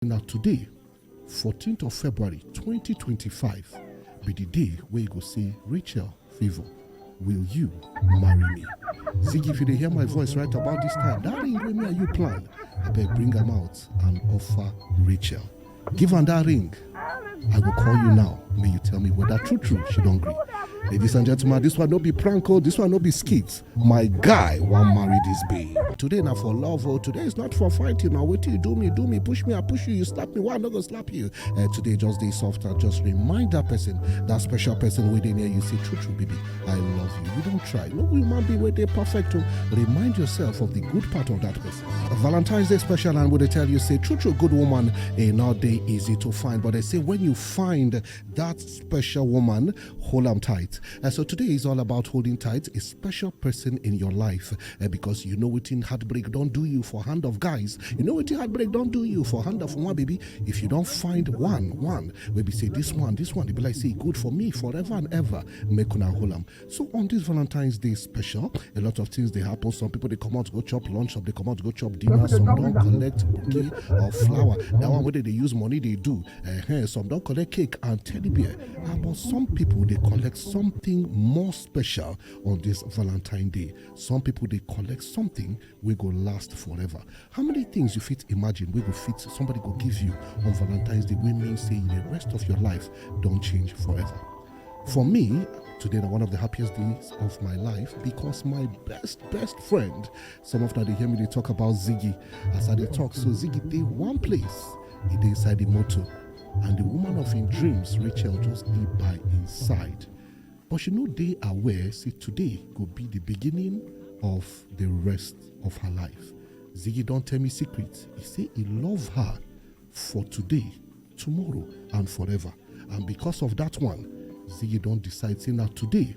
na today 14th of february 2025 be di day wey you go see rachel favour will you marry me ziggy if you dey hear my voice right about dis time dat ring wey me and you plan abeg bring am out and offer rachel give am dat ring i go call you now make you tell me whether true true she don gree ladies and gentlemen dis one no be prank o dis one no be skit my guy wan marry this babe today na for love oh today is not for fighting na wetin you do me do me push me i push you you slap me why i no go slap you Eh, today just dey soft and just remind that person that special person wey dey near you say true true baby i love you you don try no human being wey dey perfect o remind yourself of the good part of that person valentine's day special and we dey tell you say true true good woman e no dey easy to find but they say when you find that special woman hold on tight. Uh, so today is all about holding tight a special person in your life uh, because you know what in heartbreak don't do you for hand of guys. You know what in heartbreak don't do you for hand of one baby. If you don't find one, one, maybe say this one, this one, they be like say good for me forever and ever. Make una hold on. So on this Valentine's Day special, a lot of things they happen. Some people they come out go chop lunch, some they come out go chop dinner, some don't collect bouquet or flower. That one whether they use money they do. Uh, some don't collect cake and teddy bear. Ah, but some people they collect something more special on this Valentine Day. Some people they collect something we go last forever. How many things you fit imagine we go fit somebody go give you on Valentine's Day? We mean say the rest of your life don't change forever. For me, today is one of the happiest days of my life because my best best friend. Some of that they hear me they talk about Ziggy as I they talk. So Ziggy they one place, he they inside the motor. and the woman of him dreams rachel just dey by him side but she no dey aware say today go be the beginning of the rest of her life ziggy don tell me secret he say he love her for today tomorrow and forever and because of that one ziggy don decide say na today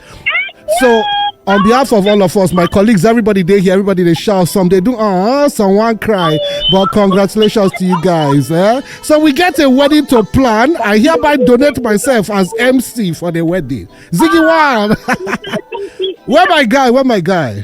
so on behalf of all of us my colleagues everybody dey here everybody dey shout some dey do uh, some wan cry but congratulations to you guys eh? so we get a wedding to plan i hereby donate myself as mc for the wedding ziggy one where my guy where my guy